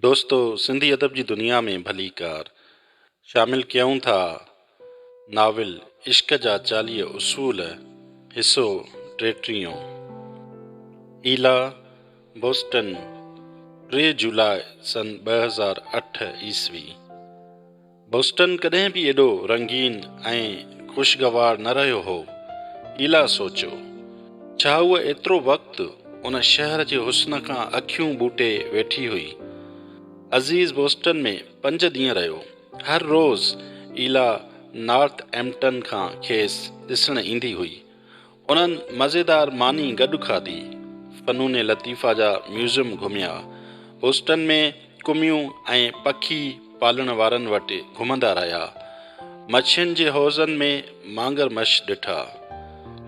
دوستو سنڌي ادب جي دنيا ۾ ڀليڪار شامل ڪيون ٿا ناول عشق جا چاليهه اصول حصو ٽيٽيهون ايلا بوسٽن ٽي جولاء سن ٻه هزار اٺ عيسوي بوسٽن ڪڏهن به ايڏو رنگين ۽ خوشگوار نه رهيو هو. ايلا سوچيو، ڇا هوء ايترو وقت ان شهر جي حسن کان اکيون ٻوٽي ويٺي هئي؟ عزيز بوسٽن ۾ پنج ڏينهن رهيو. هر روز ايلا نارٿ ايمپٽن کان کيس ڏسڻ ايندي هئي. انهن مزيدار ماني گڏ کاڌي، فنون لطيفه جا ميوزيم گهميا، هوسٽن ۾ ڪميون ۽ پکي پالڻ وارن وٽ گهمندا رهيا، مڇين جي حوضن ۾ مانگر مش ڏٺا،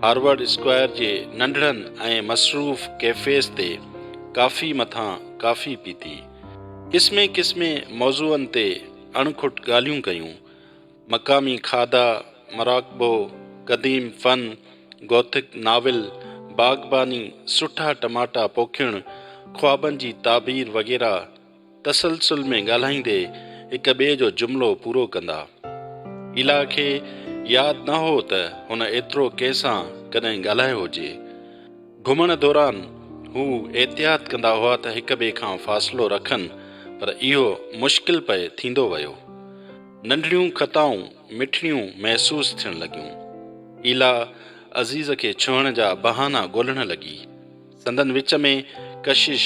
هارورڊ اسڪوائر جي ننڍڙن ۽ مصروف ڪيفيز تي ڪافي مٿان ڪافي پيتي، قسمين قسمين موضوعن تي اڻ کٽ ڳالهيون ڪيون. مقامي کاڌا، مراقبو، قديم فن، گوٿڪ ناول، باغباني، سٺا ٽماٽا پوکيڻ، خوابن جي تعبير وغيره تسلسل ۾ ڳالهائيندي هڪ ٻئي جو جملو پورو ڪندا. ايلا کي ياد نه هو ته هن ايترو ڪنهن سان ڪڏهن ڳالهايو هجي. گهمڻ دوران هو احتياط ڪندا هئا ته هڪ ٻئي کان فاصلو رکن پر اهو مشڪل پئي ٿيندو ويو. ننڍڙيون خطائون مٺڙيون محسوس ٿيڻ لڳيون. ايلا عزيز کي ڇهڻ جا بهانا ڳولڻ لڳي. سندن وچ ۾ ڪشش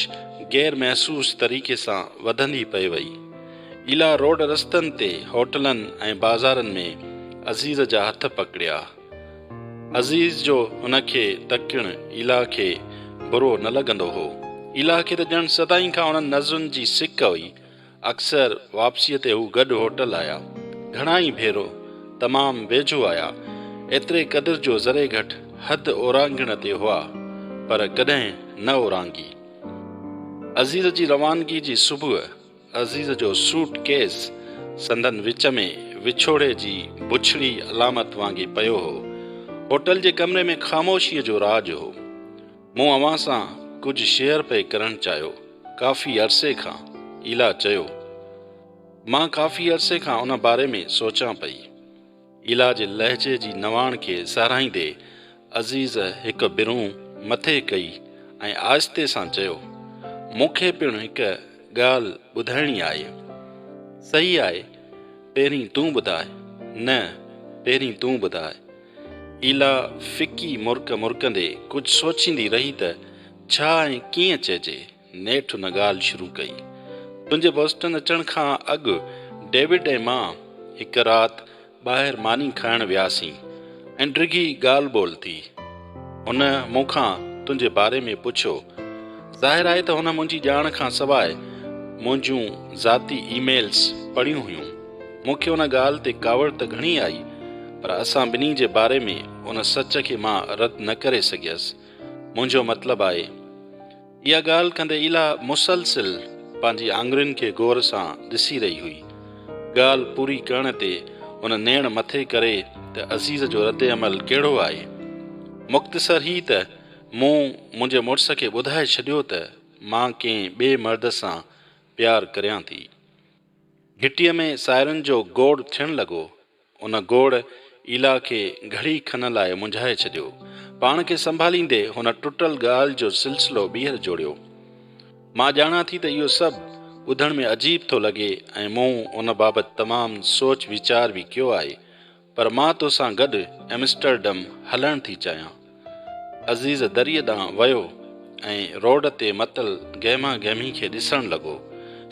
غير محسوس طريقي سان وڌندي پئي وئي. ايلا روڊ رستن تي، هوٽلن ۽ بازارن ۾ عزيز جا هٿ پڪڙيا. عزيز جو هن کي تڪڻ ايلا کي برو نه لڳندو هو. ايلا کي ته ڄڻ سدائين کان انهن نظرن جي سڪ هئي. اڪثر واپسيء تي هو گڏ هوٽل آيا. گهڻا ئي ڀيرو تمام ويجهو آيا. ايتري قدر جو ذري گهٽ حد اورانگهڻ تي هئا، پر ڪڏهن نه اورانگهي. عزيز جي روانگي جي صبح، عزيز جو سوٽ ڪيس سندن وچ ۾ وڇوڙي جي بڇڙي علامت وانگي پيو هو. هوٽل جي ڪمري ۾ خاموشيء جو راڄ هو. مون اوهان سان ڪجهه شيئر پئي ڪرڻ چاهيو. ڪافي عرصي کان ايلا چيو. مان ڪافي عرصي کان ان باري ۾ سوچان پئي. ايلا جي لهجي جي نواڻ کي ساراهيندي عزيز هڪ برونهه مٿي ڪئي ۽ آهستي سان چيو، مون کي پڻ هڪ ڳالهه ٻڌائڻي آهي. صحيح آهي، پهرين تون ٻڌاء. نه، پهرين تون ٻڌاء. ايلا ڦڪي مرڪ مرڪندي ڪجهه سوچيندي رهي ته ڇا ۽ ڪيئن چئجي. نيٺ هن ڳالهه شروع ڪئي. تنهنجي بوسٽن اچڻ کان اڳ ڊيوڊ ۽ مان هڪ رات ٻاهر ماني کائڻ وياسين ۽ ڊگهي ڳالهه ٻولهه ٿي. هن مون کان تنهنجي باري ۾ پڇيو. ظاهر آهي ته هن منهنجي ڄاڻ کان سواء منهنجون ذاتي اي ميلز پڙهيون هيون. مون کي ان ڳالهه تي ڪاوڙ ته گهڻي آئي، پر اسان ٻنهي جي باري ۾ ان سچ کي مان رد نه ڪري سگهيس. منهنجو مطلب آهي. اها ڳالهه ڪندي ايلا مسلسل پنهنجي آڱرين کي غور سان ڏسي رهي هئي. ڳالهه پوري ڪرڻ تي هن نيڻ مٿي ڪري ته عزيز جو رد عمل ڪهڙو آهي؟ مختصر هي ته مون منهنجي مڙس کي ٻڌائي ڇڏيو ته مان ڪنهن ٻئي مرد سان پيار ڪريان ٿي. گهٽيء ۾ سائرن جو گوڙ ٿيڻ لڳو. ان گوڙ ايلا کي گهڙي کن لاء منجهائي ڇڏيو. پاڻ کي سنڀاليندي هن ٽٽل ڳالهه جو سلسلو ٻيهر جوڙيو. مان ڄاڻان ٿي ته اهو سڀ ٻڌڻ ۾ عجيب ٿو لڳي ۽ مون ان بابت تمام سوچ ويچار به ڪيو آهي. پر مان تو سان گڏ ايمسٽرڊم هلڻ ٿي چاهيان. عزيز دريء ڏانهن ويو ۽ روڊ تي متل گهمه گهمي کي ڏسڻ لڳو.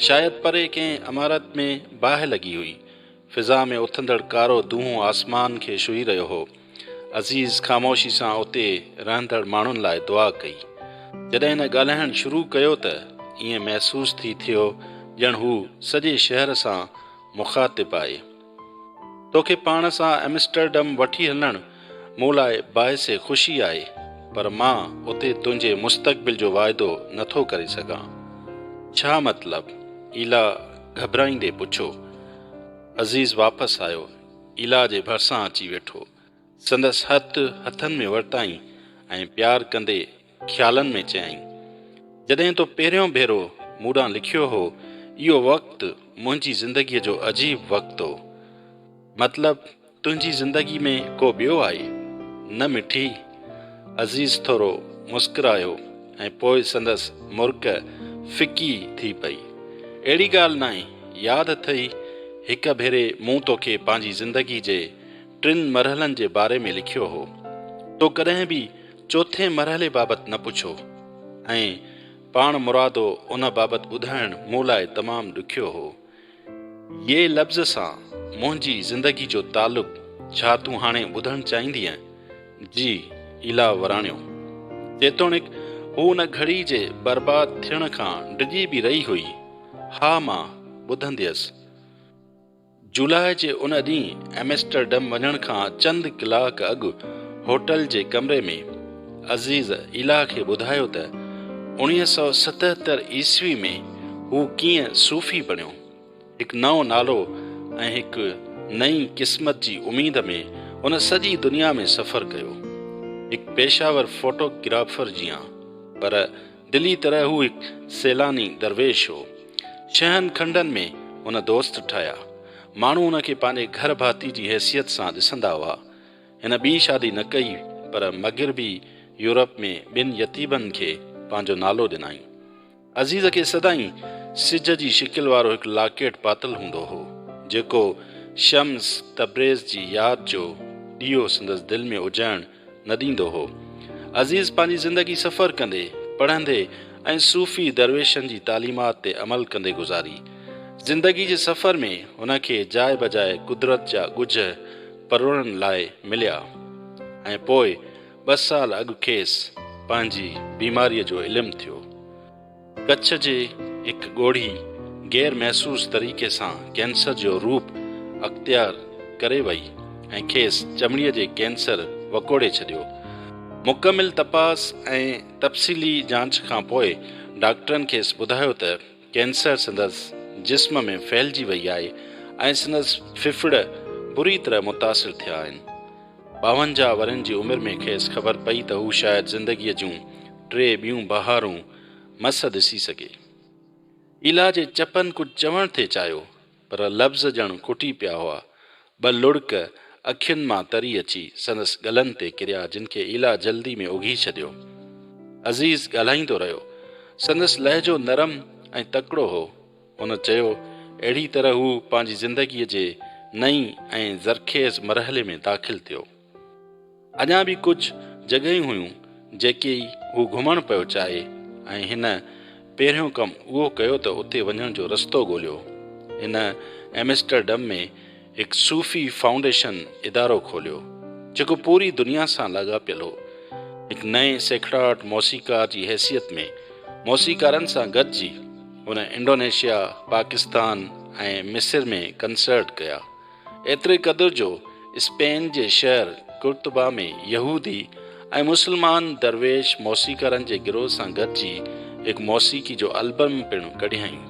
شايد پري ڪنهن عمارت ۾ باهه لڳي هئي. فضا ۾ اٿندڙ ڪارو دونهون آسمان کي شهي رهيو هو. عزيز خاموشي سان اتي رهندڙ ماڻهن لاء دعا ڪئي. جڏهن هن ڳالهائڻ شروع ڪيو ته ائين محسوس ٿي ٿيو ڄڻ هو سڄي شهر سان مخاطب آهي. توکي پاڻ سان ايمسٽرڊم وٺي هلڻ مون لاء باعث خوشي آهي، پر مان اتي تنهنجي مستقبل جو واعدو نه ٿو ڪري سگهان. ڇا مطلب؟ ايلا گهٻرائيندي پڇيو. عزيز واپس آيو، ايلا جي ڀرسان اچي ويٺو. سندس هٿ هٿن ۾ ورتائين ۽ پيار ڪندي خيالن ۾ چيائين، جڏهن تو پهريون ڀيرو مون ڏانهن لکيو هو، اهو وقت منهنجي زندگيء جو عجيب وقت هو. مطلب تنهنجي زندگيء ۾ ڪو ٻيو آهي، نه مٺي؟ عزيز ٿورو مسڪرايو ۽ پوء سندس مرڪ ڦڪي ٿي پئي. اهڙي ڳالهه ناهي، ياد اٿئي هڪ ڀيري مون توکي پنهنجي زندگيء جي ٽن مرحلن جي باري ۾ لکيو هو. تو ڪڏهن به چوٿين مرحلي بابت نه پڇو ۽ پاڻمرادو ان بابت ٻڌائڻ مون لاء تمام ڏکيو هو. يي لفظ سان منهنجي زندگي جو تعلق ڇا تون هاڻي ٻڌڻ چاهيندينء؟ جي ايلا وراڻيو. جيتوڻيڪ هو ان گهڙي جي برباد ٿيڻ کان ڊڄي به رهي هئي. ها مان ٻڌنديس. جولاء جي ان ڏينهن ايمسٽرڊم وڃڻ کان چند ڪلاڪ اڳ هوٽل جي ڪمري ۾ عزيز ايلا کي ٻڌايو ته اوڻيهه سؤ ستهتر عيسوي ۾ هو ڪيئن صوفي بڻيو، هڪ نئون نالو ۽ هڪ نئين قسمت جي اميد ۾ هن سڄي دنيا ۾ سفر ڪيو، هڪ پيشه ور فوٽو گرافر جيان، پر دلي طرح هو هڪ سيلاني درويش هو. ڇهن کنڊن ۾ هن دوست ٺاهيا. ماڻهو هن کي پنهنجي گهر ڀاتي جي حيثيت سان ڏسندا هئا. هن ٻي شادي نه ڪئي پر مغربي يورپ ۾ ٻن يتيمن کي پنهنجو نالو ڏنائين. عزيز کي سدائين سج جي شڪل وارو هڪ لاڪيٽ پاتل هوندو هو، جيڪو شمس تبريز جي ياد جو ڏيئو سندس دل ۾ اجهڻ نه ڏيندو هو. عزيز پنهنجي زندگي سفر ڪندي، پڙهندي ۽ صوفي درويشن جي تعليمات تي عمل ڪندي گذاري. زندگي جي سفر ۾ هن کي جاء بجاء قدرت جا ڳجهه پروڙڻ لاء مليا ۽ پوء ٻه سال اڳ کيس پنهنجي بيماريء جو علم ٿيو. ڪڇ جي هڪ ڳوڙهي غير محسوس طريقي سان ڪينسر جو روپ اختيار ڪري وئي ۽ کيس چمڙي جي ڪينسر وڪوڙي ڇڏيو. مڪمل تپاس ۽ تفصيلي جاچ کان پوء ڊاڪٽرن کيس ٻڌايو ته ڪينسر سندس جسم ۾ ڦهلجي وئي آهي ۽ سندس ڦڦڙ بري طرح متاثر ٿيا آهن. ٻاونجاهه ورهين جي عمر ۾ کيس خبر پئي ته هو شايد زندگيء جون ٽي ٻيون بهارون مس ڏسي سگهي. ايلا جي چپن ڪجهه چوڻ ٿي چاهيو پر لفظ ڄڻ ڪٽي پيا هئا. ٻه لڙڪ اکين مان تري اچي سندس ڳلن تي ڪريا جن کي ايلا جلدي ۾ اگهي ڇڏيو. عزيز ڳالهائيندو رهيو. سندس لهجو نرم ۽ تڪڙو هو. هن چيو، اهڙي طرح هو پنهنجي زندگيء جي نئين ۽ زرخيز مرحلي ۾ داخل ٿيو. اڃا به ڪجهه جڳهيون هيون جيڪي ئي هو گهمڻ پيو چاهي ۽ هن پهريون ڪم اهو ڪيو ته اتي وڃڻ جو رستو ڳوليو. هن ايمسٽرڊم ۾ هڪ صوفي فائونڊيشن ادارو کوليو جيڪو پوري دنيا سان لاڳاپيل هو. هڪ نئين سيکڙاٽ موسيقار جي حيثيت ۾ موسيقارن سان گڏجي هن انڊونيشيا، پاڪستان ۽ مصر ۾ ڪنسرٽ ڪيا. ايتري قدر جو اسپين جي شهر قرطبه ۾ يهودي ۽ مسلمان درويش موسيقارن جي گروهه سان گڏجي هڪ موسيقي جو البم پڻ ڪڍيائين.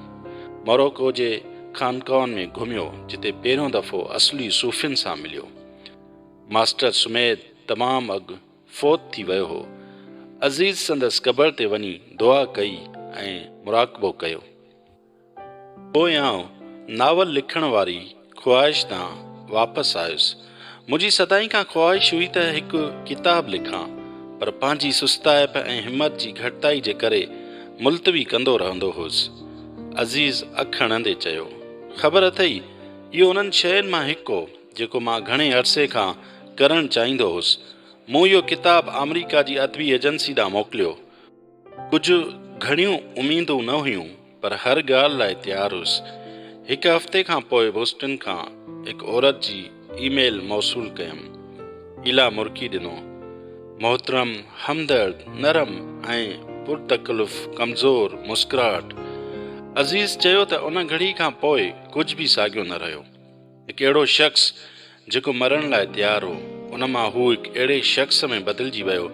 موراڪو جي خانقاهن ۾ گهميو جتي پهريون دفعو اصلي صوفين سان مليو. ماسٽر سميد تمام اڳ فوت ٿي ويو هو. عزيز سندس قبر تي وڃي دعا ڪئي ۽ مراقبو ڪيو. پوء آئون ناول لکڻ واري خواهش تان واپس آيس. منهنجي سدائين کان خواهش هئي ته هڪ ڪتاب لکان، پر پنهنجي سستائپ ۽ همت جي گهٽتائي جي ڪري ملتوي ڪندو رهندو هوس. عزيز اک هڻندي چيو، خبر اٿئي، اهو انهن شين مان هڪ هو، جيڪو مان گهڻي عرصي کان ڪرڻ چاهيندو هوس. مون اهو ڪتاب آمريڪا جي ادبي ايجنسي ڏانهن موڪليو. ڪجهه گهڻيون اميدون نه هيون پر هر ڳالهه لاء تيار هيس. هڪ هفتي کان پوء بوسٽن کان هڪ عورت جي اي ميل موصول ڪيم. ايلا مرڪي ڏنو. محترم، همدرد، نرم ۽ پر تڪلف ڪمزور مسڪراهٽ. عزيز چيو ته ان گهڙي کان پوء ڪجهه به ساڳيو نه رهيو. هڪ اهڙو شخص جيڪو مرڻ لاء تيار هو، ان مان هو هڪ اهڙي شخص ۾ بدلجي ويو،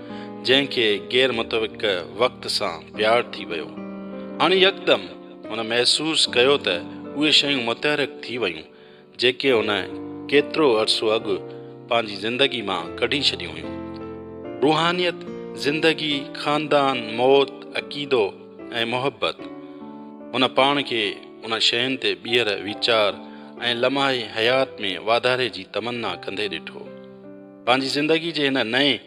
جنهن کي غير متوقع وقت سان پيار ٿي ويو. هاڻ يڪدم هن محسوس ڪيو ته اهي شيون متحرڪ ٿي ويون، جيڪي هن ڪيترو عرصو اڳ پنهنجي زندگي مان ڪڍي ڇڏيون هيون. روحانيت، زندگي، خاندان، موت، عقيدو ۽ محبت. هن پاڻ کي انهن شين تي ٻيهر ويچار ۽ لمحي حيات ۾ واڌاري جي تمنا ڪندي ڏٺو. پنهنجي زندگي جي هن نئين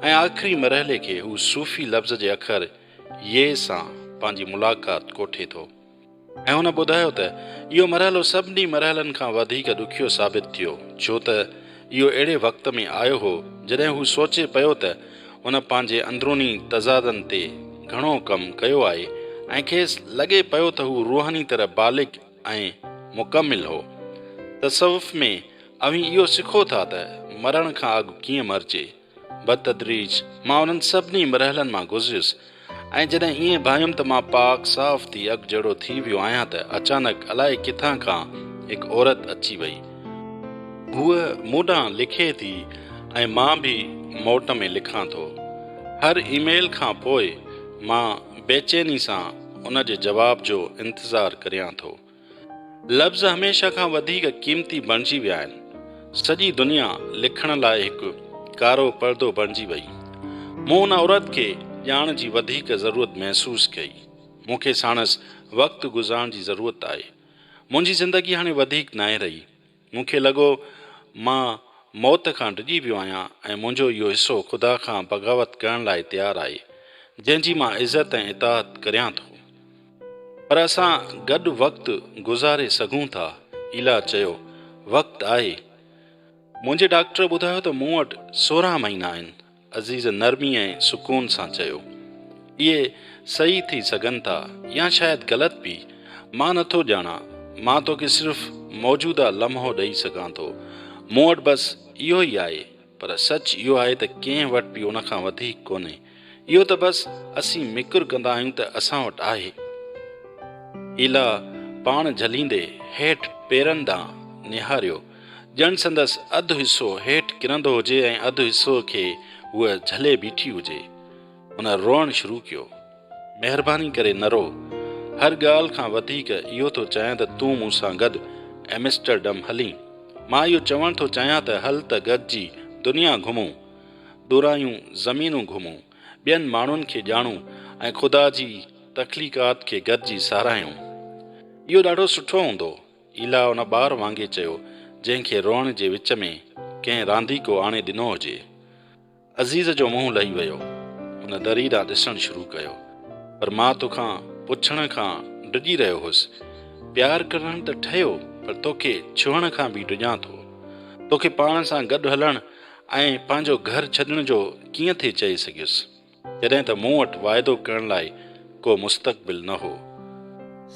۽ آخري مرحلي کي هو صوفي لفظ جي اکر يء سان پنهنجي ملاقات ڪوٺي ٿو ۽ هن ٻڌايو ته اهو مرحلو سڀني مرحلن کان وڌيڪ ڏکيو ثابت ٿيو ڇو ته اهو اهڙي وقت ۾ آيو هو جڏهن هو سوچي پيو ته هن پنهنجي اندروني تضادن تي گهڻو ڪم ڪيو آهي ۽ کيس لڳي پيو ته هو روحاني طرح بالغ ۽ مڪمل هو. تصوف ۾ اوهين اهو سکو ٿا ته مرڻ کان اڳ ڪيئن مرجي. بتدريج مان انهن سڀني مرحلن مان گذريس ۽ جڏهن ائين ڀانيم ته مان پاڪ صاف ٿي اڳ جهڙو ٿي ويو آهيان ته اچانڪ الائي ڪٿان کان هڪ عورت اچي وئي. هوء مون ڏانهن لکي ٿي ۽ مان به موٽ ۾ لکان ٿو. هر اي ميل کان پوء مان بيچيني سان ان جي جواب جو انتظار ڪريان ٿو. لفظ هميشه کان وڌيڪ قيمتي بڻجي ويا آهن. سڄي دنيا لکڻ لاء هڪ ڪارو پردو بڻجي وئي. مون ان عورت کي ڄاڻ جي وڌيڪ ضرورت محسوس ڪئي. مون کي ساڻس وقت گذارڻ جي ضرورت آهي. منهنجي زندگي هاڻي وڌيڪ ناهي رهي. مون کي لڳو مان موت کان ڊڄي پيو آهيان ۽ منهنجو اهو حصو خدا کان بغاوت ڪرڻ لاء تيار آهي، جنهن جي مان عزت ۽ اطاعت ڪريان ٿو. پر اسان گڏ وقت گذاري سگهون ٿا. ايلا چيو، وقت آهي. منهنجي ڊاڪٽر ٻڌايو ته مون وٽ سورهن مهينا آهن. عزيز نرمي ۽ سڪون سان چيو. اهي صحيح ٿي سگهن ٿا يا شايد غلط به. مان نه ٿو ڄاڻان. مان توکي صرف موجوده لمحو ڏئي سگهان ٿو. مون وٽ بس اهو ئي آهي. پر سچ اهو آهي ته ڪنهن وٽ به ان کان وڌيڪ ڪونهي. اهو ته بس اسين مڪر ڪندا آهيون ته اسان وٽ آهي. ايلا پاڻ جهليندي هيٺ پيرن ڏانهن نهاريو. ڄڻ سندس اڌ حصو هيٺ ڪرندو هجي ۽ اڌ حصو کي هوء جهلي بيٺي هجي. هن روئڻ شروع ڪيو. مهرباني ڪري نه رو. هر ڳالهه کان وڌيڪ اهو ٿو چاهيان ته تون مون سان گڏ ايمسٽرڊم هلين. مان اهو چوڻ ٿو چاهيان ته هل ته گڏجي دنيا گهمون. ڏورايون زمينون گهمون. ٻين ماڻهن کي ڄاڻون ۽ خدا جي تخليقات کي گڏجي ساراهيون. اهو ڏاڍو سٺو هوندو. ايلا ان ٻار وانگي چيو جنهن کي روئڻ جي وچ ۾ ڪنهن رانديڪو آڻي ڏنو هجي. عزيز جو منهن لهي ويو. هن دري ڏانهن ڏسڻ شروع ڪيو. پر مان توکان پڇڻ کان ڊڄي رهيو هوس. پيار ڪرڻ ته ٺهيو پر توکي ڇهڻ کان به ڊڄان ٿو. توکي پاڻ سان گڏ هلڻ ۽ پنهنجو گهر ڇڏڻ جو ڪيئن ٿي چئي سگهيس. جڏهن ته مون وٽ واعدو ڪرڻ لاء ڪو مستقبل نه هو.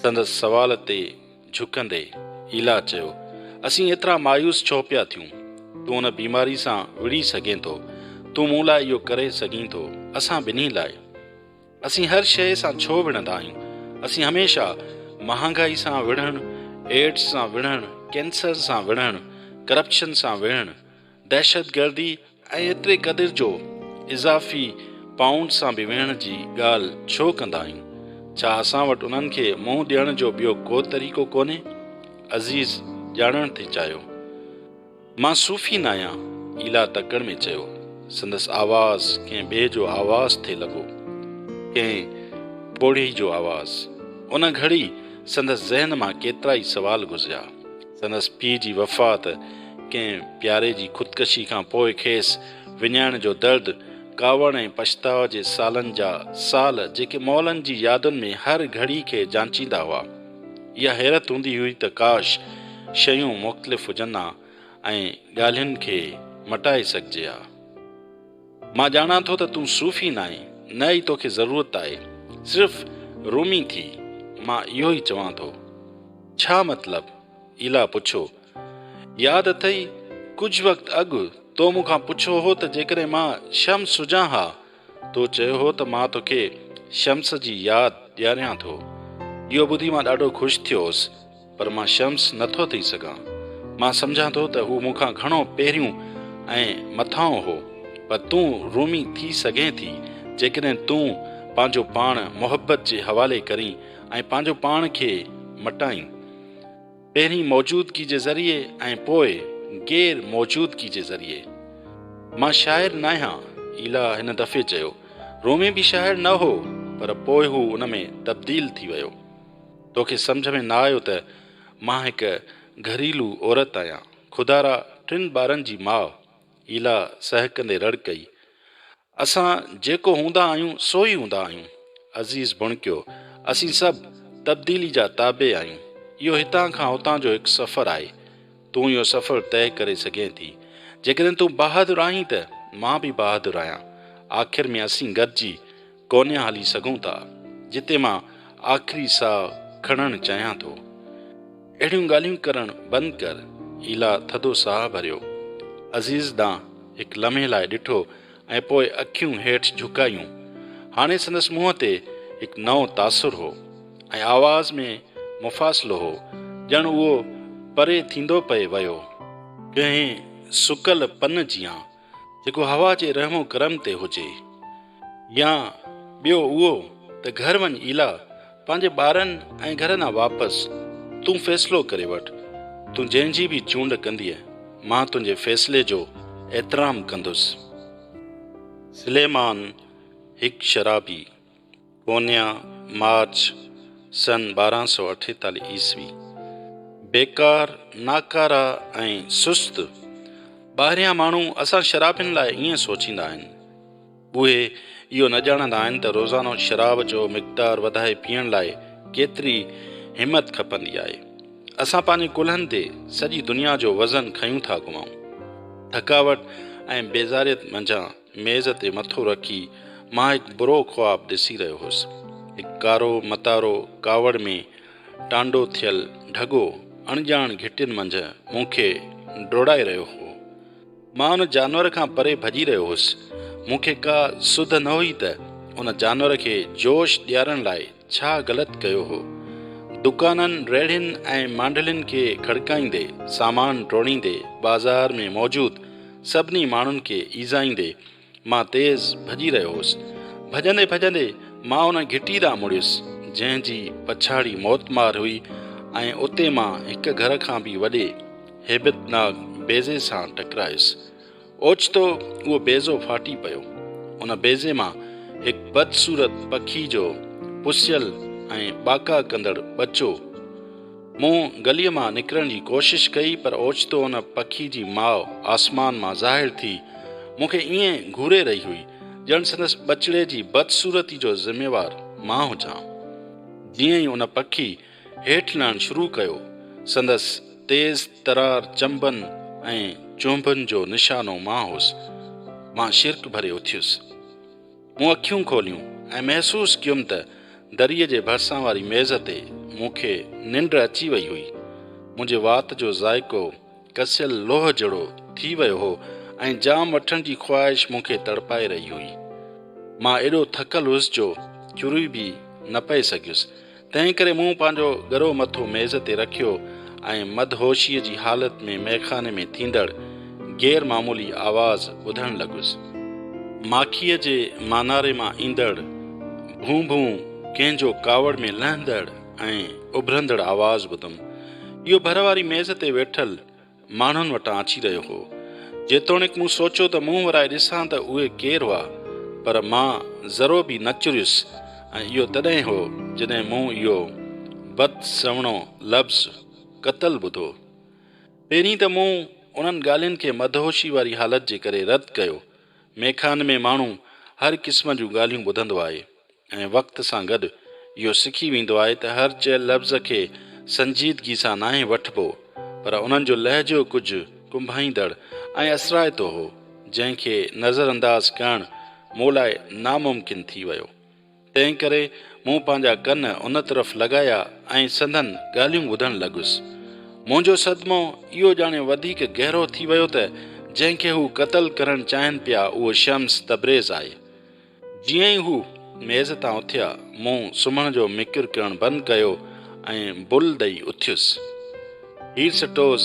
سندس سوال تي جهڪندي ايلا چيو، اسين ايترا مايوس ڇو پيا ٿيون؟ تون ان بيماري سان وڙهي سگهين ٿو. تون مون لاء اهو ڪري سگهين ٿو. اسان ٻنهي لاء. اسين هر شيء سان ڇو وڙهندا آهيون؟ اسين هميشه مهانگائي سان وڙهڻ، ايڊز سان وڙهڻ، ڪينسر سان وڙهڻ، ڪرپشن سان وڙهڻ، دهشتگردي ۽ ايتري قدر جو اضافي پائونڊ سان به ويهڻ جي ڳالهه ڇو ڪندا آهيون؟ ڇا اسان وٽ انهن کي منهن ڏيڻ جو ٻيو ڪو طريقو ڪونهي؟ عزيز ڄاڻڻ ٿي چاهيو. مان صوفي ناهيان، ايلا تڪڙ ۾ چيو. سندس آواز ڪنهن ٻئي جو آواز ٿي لڳو. ڪنهن پوڙهي جو آواز. ان گهڙي سندس ذهن مان ڪيترائي سوال گذريا. سندس پيء جي وفات، ڪنهن پياري جي خودڪشي کان پوء کيس وڃائڻ جو درد، ڪاوڙ ۽ پڇتاء جي سالن جا سال جيڪي مئلن جي يادن ۾ هر گهڙي کي جانچيندا هئا. اها حيرت هوندي هئي ته ڪاش شيون مختلف هجن ها ۽ ڳالهين کي مٽائي سگهجي ها. مان ڄاڻان ٿو ته تون صوفي ناهين، نه ئي توکي ضرورت آهي، صرف رومي ٿي، مان اهو ئي چوان ٿو. ڇا مطلب؟ ايلا پڇيو. ياد اٿئي، ڪجهه وقت اڳ تو مون کان پڇيو هو ته جيڪڏهن مان شمس هجان ها، تو چيو هو ته مان توکي شمس جي ياد ڏياريان ٿو. اهو ٻڌي مان ڏاڍو خوش ٿيو هوس، پر مان شمس نه ٿو ٿي سگهان. مان سمجهان ٿو ته هو مون کان گهڻو پهريون ۽ مٿانهون هو. پر تون رومي ٿي سگهين ٿي، جيڪڏهن تون پنهنجو پاڻ محبت جي حوالي ڪرين ۽ پنهنجو پاڻ کي مٽائين. پهرين موجودگي جي ذريعي ۽ پوء غير موجودگي جي ذريعي. مان شاعر ناهيان، ايلا هن دفعي چيو. رومي به شاعر نه هو، پر پوء هو ان ۾ تبديل ٿي ويو. توکي سمجهه ۾ نه آيو ته مان هڪ گهريلو عورت آهيان، خدارا ٽن ٻارن جي ماء. ايلا سهڪندي رڙ ڪئي. اسان جيڪو هوندا آهيون سو ئي هوندا آهيون. عزيز ڀڻڪيو. اسين سڀ تبديلي جا تابع آهيون. اهو هتان کان هتان جو هڪ سفر آهي. تون اهو سفر طئي ڪري سگهين ٿي. جيڪڏهن تون بهادر آهين ته مان به بهادر آهيان. آخر ۾ اسين گڏجي ڪونهن هلي سگهون ٿا، جتي مان آخري ساهه کڻڻ چاهيان ٿو. اهڙيون ڳالهيون ڪرڻ بند ڪر. ايلا ٿڌو ساهه ڀريو. عزيز ڏانهن هڪ لمحي لاء ڏٺو ۽ پوء اکيون هيٺ جهڪايون. هاڻي سندس منهن تي هڪ نئون تاثر هو ۽ آواز ۾ مفاصلو هو، ڄڻ اهو پري ٿيندو پئي ويو. ڪنهن سڪل پن جيان. جيڪو هوا جي رحم و ڪرم تي هجي يا ٻيو اهو ته گهر وڃ ايلا پنهنجي ٻارن ۽ گهر ڏانهن واپس تون فيصلو ڪري وٺ تون جنهن جي به چونڊ ڪندينء مان تنهنجي فيصلي جو احترام ڪندس. سليمان هڪ شرابي. پونيا، مارچ، سن ٻارهن سؤ اٺيتالهه عيسوي، بيڪار، ناڪارا ۽ سست ٻاهريان ماڻهو اسان شرابين لاء ائين سوچيندا آهن. اهي اهو نه ڄاڻندا آهن ته روزانو شراب جو مقدار وڌائي پيئڻ لاء ڪيتري همت کپندي آهي. اسان پنهنجي ڪلهن تي سڄي دنيا جو وزن کنيون ٿا گهمائون. ٿڪاوٽ ۽ بيزاريت منجهان ميز تي مٿو رکي مان هڪ برو خواب ڏسي رهيو هوس. هڪ ڪارو متارو ڪاوڙ ۾ ٽانڊو ٿيل ڍڳو اڻڄاڻ گهٽين منجهه مون کي ڊوڙائي رهيو هو. مان ان جانور کان پري ڀڄي رهيو هوس. مون کي ڪا سڌ نه هئي ته ان جانور کي جوش ڏيارڻ لاء ڇا غلط ڪيو هو؟ دڪانن، ريڙهين ۽ مانڊلين کي کڙڪائيندي، سامان ٽوڙيندي، بازار ۾ موجود سڀني ماڻهن کي ايذائيندي، مان تيز ڀڄي رهيو هوس. ڀڄندي ڀڄندي مان ان گهٽي ڏانهن مڙيس، جنهن جي پڇاڙي موتمار هئي ۽ اتي مان هڪ گهر کان به وڏي هيبتناڪ بيضي سان ٽڪرايس. اوچتو اهو بيضو ڦاٽي پيو. ان بيضي مان هڪ بدصورت پکي جو پسيل ۽ ٻاڪا ڪندڙ ٻچو. مون گليء مان نڪرڻ جي ڪوشش ڪئي پر اوچتو ان پکي جي ماء آسمان مان ظاهر ٿي مون کي ائين گهوري رهي هئي ڄڻ سندس ٻچڙي جي بدصورتي جو ذميوار مان هجان. جيئن ئي ان پکي هيٺ لهڻ شروع ڪيو. سندس تيز ترار چنبن ۽ چونڀن جو نشانو مان هوس. مان شرڪ ڀري اٿيس. مون اکيون کوليون ۽ محسوس ڪيم ته دريء جي ڀرسان واري ميز تي مون کي ننڊ اچي وئي هئي. منهنجي وات جو ذائقو. ڪسيل لوهه جهڙو ٿي ويو هو ۽ جام وٺڻ جي خواهش مون کي تڙپائي رهي هئي. مان ايڏو ٿڪل هيس جو چري به نه پئي سگهيس، تنهنڪري مون پنهنجو ڳرو مٿو ميز تي رکيو ۽ مدهوشيء جي حالت ۾ مئخاني ۾ ٿيندڙ غير معمولي آواز ٻڌڻ لڳس. ماکيء جي ماناري مان ايندڙ، ڀون ڀون ڪنهن جو ڪاوڙ ۾ لهندڙ. ۽ اڀرندڙ آواز ٻڌم. اهو ڀر واري ميز تي ويٺل ماڻهن وٽان اچي رهيو هو. جيتوڻيڪ مون سوچيو ته منهن ورائي ڏسان ته اهي ڪير هئا، پر مان ذرو به نه چريس ۽ اهو تڏهن هو جڏهن مون اهو بد سهڻو لفظ قتل ٻڌو. پهرين ته مون انهن ڳالهين کي مدهوشي واري حالت جي ڪري رد ڪيو. ميخانه ۾ ماڻهو هر قسم جون ڳالهيون ٻڌندو آهي. ۽ وقت سان گڏ اهو سکي ويندو آهي ته هر چيل لفظ کي سنجيدگي سان ناهي وٺبو پر انهن جو لهجو ڪجهه ڪنڀائيندڙ ۽ اثرائتو هو جنهن کي نظر انداز ڪرڻ مون لاء ناممڪن ٿي ويو تنهنڪري مون پنهنجا ڪن ان طرف لڳايا ۽ سندن ڳالهيون ٻڌڻ لڳس منهنجو صدمو اهو ڄاڻي وڌيڪ گهرو ٿي ويو ته جنهن کي هو قتل ڪرڻ چاهين پيا اهو شمس تبريز آهي جيئن ئي هو ميز تان اٿيا، مون سمهڻ جو مڪر ڪرڻ بند ڪيو ۽ بل ڏئي اٿيس. هير سٽوس،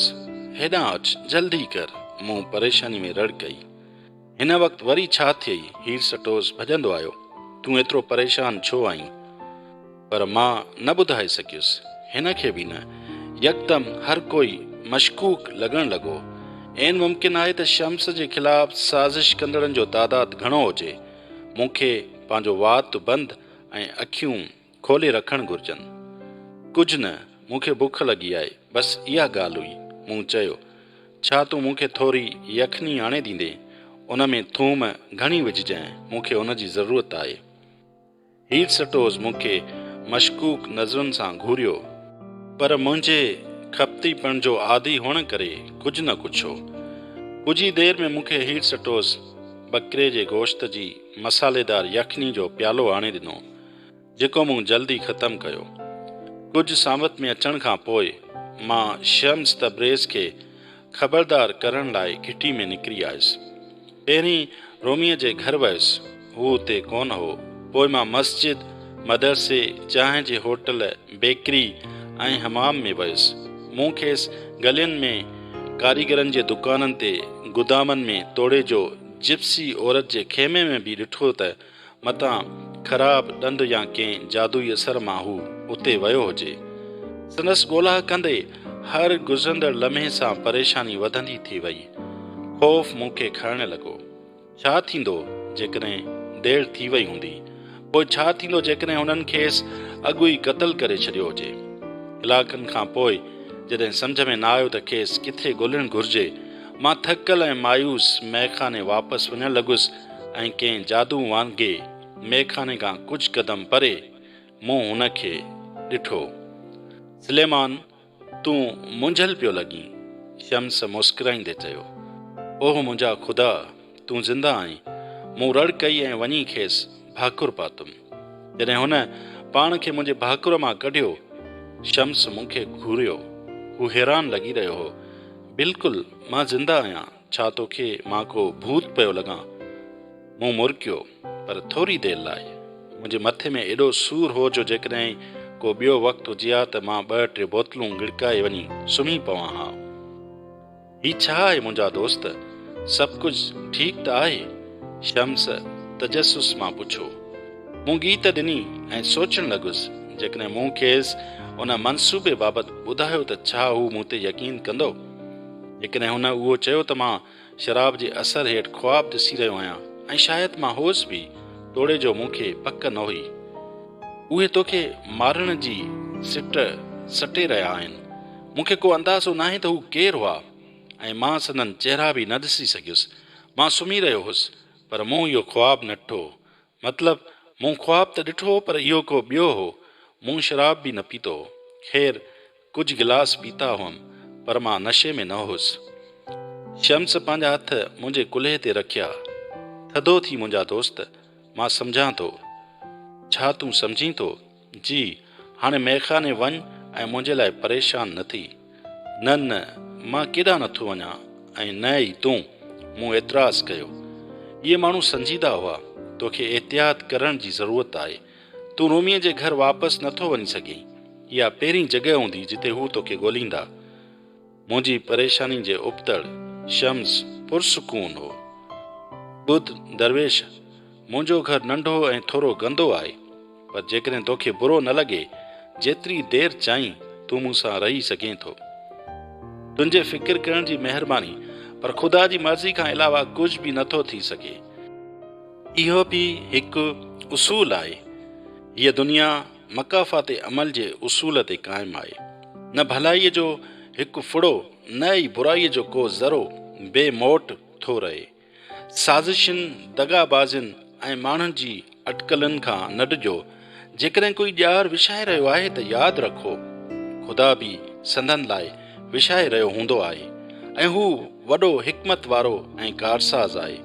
هيڏانهن اچ، جلدي ڪر. مون پريشاني ۾ رڙ ڪئي. هن وقت وري ڇا ٿئي؟ هير سٽوس ڀڄندو آيو. تون ايترو پريشان ڇو آهين؟ پر مان نه ٻڌائي سگهيس، هن کي به نه. يڪدم هر ڪوئي مشڪوڪ لڳڻ لڳو. عين ممڪن آهي ته شمس جي خلاف سازش ڪندڙن جو تعداد گهڻو هجي. مون کي پنهنجو وات بند ۽ اکيون کولي رکڻ گهرجن. ڪجهه نه، مون کي بک لڳي آهي، بس اها ڳالهه هئي. مون چيو، ڇا تون مون کي ٿوري يخني آڻي ڏيندين؟ ان ۾ ٿوم گهڻي وجهجانء، مون کي ان جي ضرورت آهي. هيرسٽوز مون کي مشڪوڪ نظرن سان گهوريو، پر منهنجي کپتيپڻ جو عادي هئڻ ڪري ڪجهه نه ڪڇيو. ڪجهه ئي دير ۾ مون کي هيرسٽوز ٻڪري جي گوشت جي مصالحيدار يخني جو پيالو آڻي ڏنو، جيڪو مون جلدي ختم ڪيو. ڪجهه ساوت ۾ اچڻ کان پوء مان شيمس تبريز کي خبردار ڪرڻ لاء گهٽي ۾ نڪري آيس. پهرين روميء جي گهر ويس. هو اتي ڪونه هو. پوء مان مسجد، مدرسي، چانهه جي هوٽل، بيڪري ۽ حمام ۾ ويس. مون کيس گلين ۾ ڪاريگرن جي دڪانن تي، گدامن ۾ توڙي جو جپسي عورت جي خيمي ۾ به ڏٺو ته متان خراب ڏند يا ڪنهن جادوئي اثر مان هو اتي ويو هجي. سندس ڳولا ڪندي هر گذرندڙ لمحي سان پريشاني وڌندي ٿي وئي. خوف مون کي کائڻ لڳو. ڇا ٿيندو جيڪڏهن دير ٿي وئي هوندي؟ پوء ڇا ٿيندو جيڪڏهن هنن کيس اڳ ئي قتل ڪري ڇڏيو هجي؟ ڪلاڪن کان پوء جڏهن سمجهه ۾ نه آيو ته کيس ڪٿي ڳولڻ گهرجي، مان ٿڪل ۽ مايوس مئخاني واپس وڃڻ لڳس. ۽ ڪنهن جادو وانگي ميخاني کان ڪجهه قدم پري مون هن کي ڏٺو. سليمان، تون مونجهيل پيو لڳين. شمس مسڪرائيندي چيو. اوه منهنجا خدا، تون زنده آهين. مون رڙ ڪئي ۽ وڃي کيس ڀاڪر پاتم. جڏهن هن پاڻ کي منهنجي ڀاڪر مان ڪڍيو، شمس مون کي گهوريو. هو حيران لڳي رهيو هو. بلڪل مان زنده آهيان. ڇا توکي مان ڪو ڀوت پيو لڳان؟ مون مرڪيو، پر ٿوري دير لاء. منهنجي مٿي ۾ ايڏو سور هو جو جيڪڏهن ڪو ٻيو وقت هجي ها ته مان ٻه ٽي بوتلون ڳڙڪائي وڃي سمهي پوان ها. هي ڇا آهي منهنجا دوست؟ سڀ ڪجهه ٺيڪ ته آهي؟ شمس تجسس مان پڇيو. مون ڳيت ڏني ۽ سوچڻ لڳس، جيڪڏهن مون کيس ان منصوبي بابت ٻڌايو ته ڇا هو مون تي يقين ڪندو؟ جيڪڏهن هن اهو چيو ته مان شراب جي اثر هيٺ خواب ڏسي رهيو آهيان ۽ شايد مان هوس به توڙي جو مون کي پڪ نه هئي. اهي توکي مارڻ جي سٽ سٽي رهيا آهن. مون کي ڪو اندازو ناهي ته هو ڪير هئا ۽ مان سندن چهرا به نه ڏسي سگهيس. مان سمهي رهيو هوس پر مون اهو خواب نه ڏٺو مطلب، مون خواب ته ڏٺو هو پر اهو ڪو ٻيو هو. مون شراب به نه پيتو هو. خير، ڪجهه گلاس پيتا هئم پر مان نشي ۾ نه هوس. شمس پنهنجا هٿ منهنجي ڪلهي تي رکيا. ٿڌو ٿي منهنجا دوست، مان سمجهان ٿو. ڇا تون سمجهين ٿو؟ جي، هاڻي مئخاني وڃ ۽ منهنجي لاء پريشان نه ٿي. نه نه، مان ڪيڏانهن نه ٿو وڃان ۽ نه ئي تون. مون اعتراض ڪيو. اهي ماڻهو سنجيده هئا. توکي احتياط ڪرڻ جي ضرورت آهي. تون روميء جي گهر واپس نه ٿو وڃي سگهين. اها پهرين جڳهه هوندي جتي هو توکي ڳوليندا. منهنجي پريشانين جي ابتڙ شمس پرسڪون هو. ٻڌ درويش، منهنجو گهر ننڍو ۽ ٿورو گندو آهي، پر جيڪڏهن توکي برو نه لڳي، جيتري دير چاهين تون مون سان رهي سگهين ٿو. تنهنجي فڪر ڪرڻ جي مهرباني، پر خدا جي مرضي کان علاوه ڪجهه به نه ٿو ٿي سگهي. اهو به هڪ اصول آهي، هيء دنيا. مڪافات عمل جي اصول تي قائم آهي. نه ڀلائيء جو هڪ ڦڙو نه ئي برائيء جو ڪو ذرو بي موٽ ٿو رهي. سازشين، دغا بازين ۽ ماڻهن جي اٽڪلن کان نه ڊڄو. جيڪڏهن ڪوئي ڄار وڇائي رهيو آهي ته ياد رکو، خدا به سندن لاء وڇائي رهيو هوندو آهي ۽ هو وڏو حڪمت وارو ۽ ڪارساز آهي.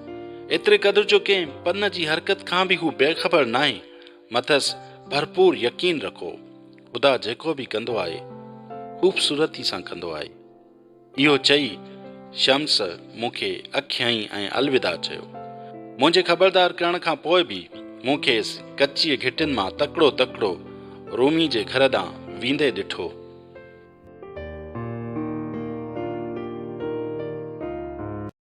ايتري قدر جو ڪنهن پن جي حرڪت کان به هو بيخبر ناهي. مٿس ڀرپور يقين رکو، خدا جيڪو به ڪندو آهي، خوبصورتي سان ڪندو آهي. اهو چئي شمس مون کي اک هنئي ۽ الوداع چيو. منهنجي خبردار ڪرڻ کان پوء به مون کيس ڪچيء گهٽين مان تڪڙو تڪڙو رومي جي گهر ڏانهن ويندي ڏٺو.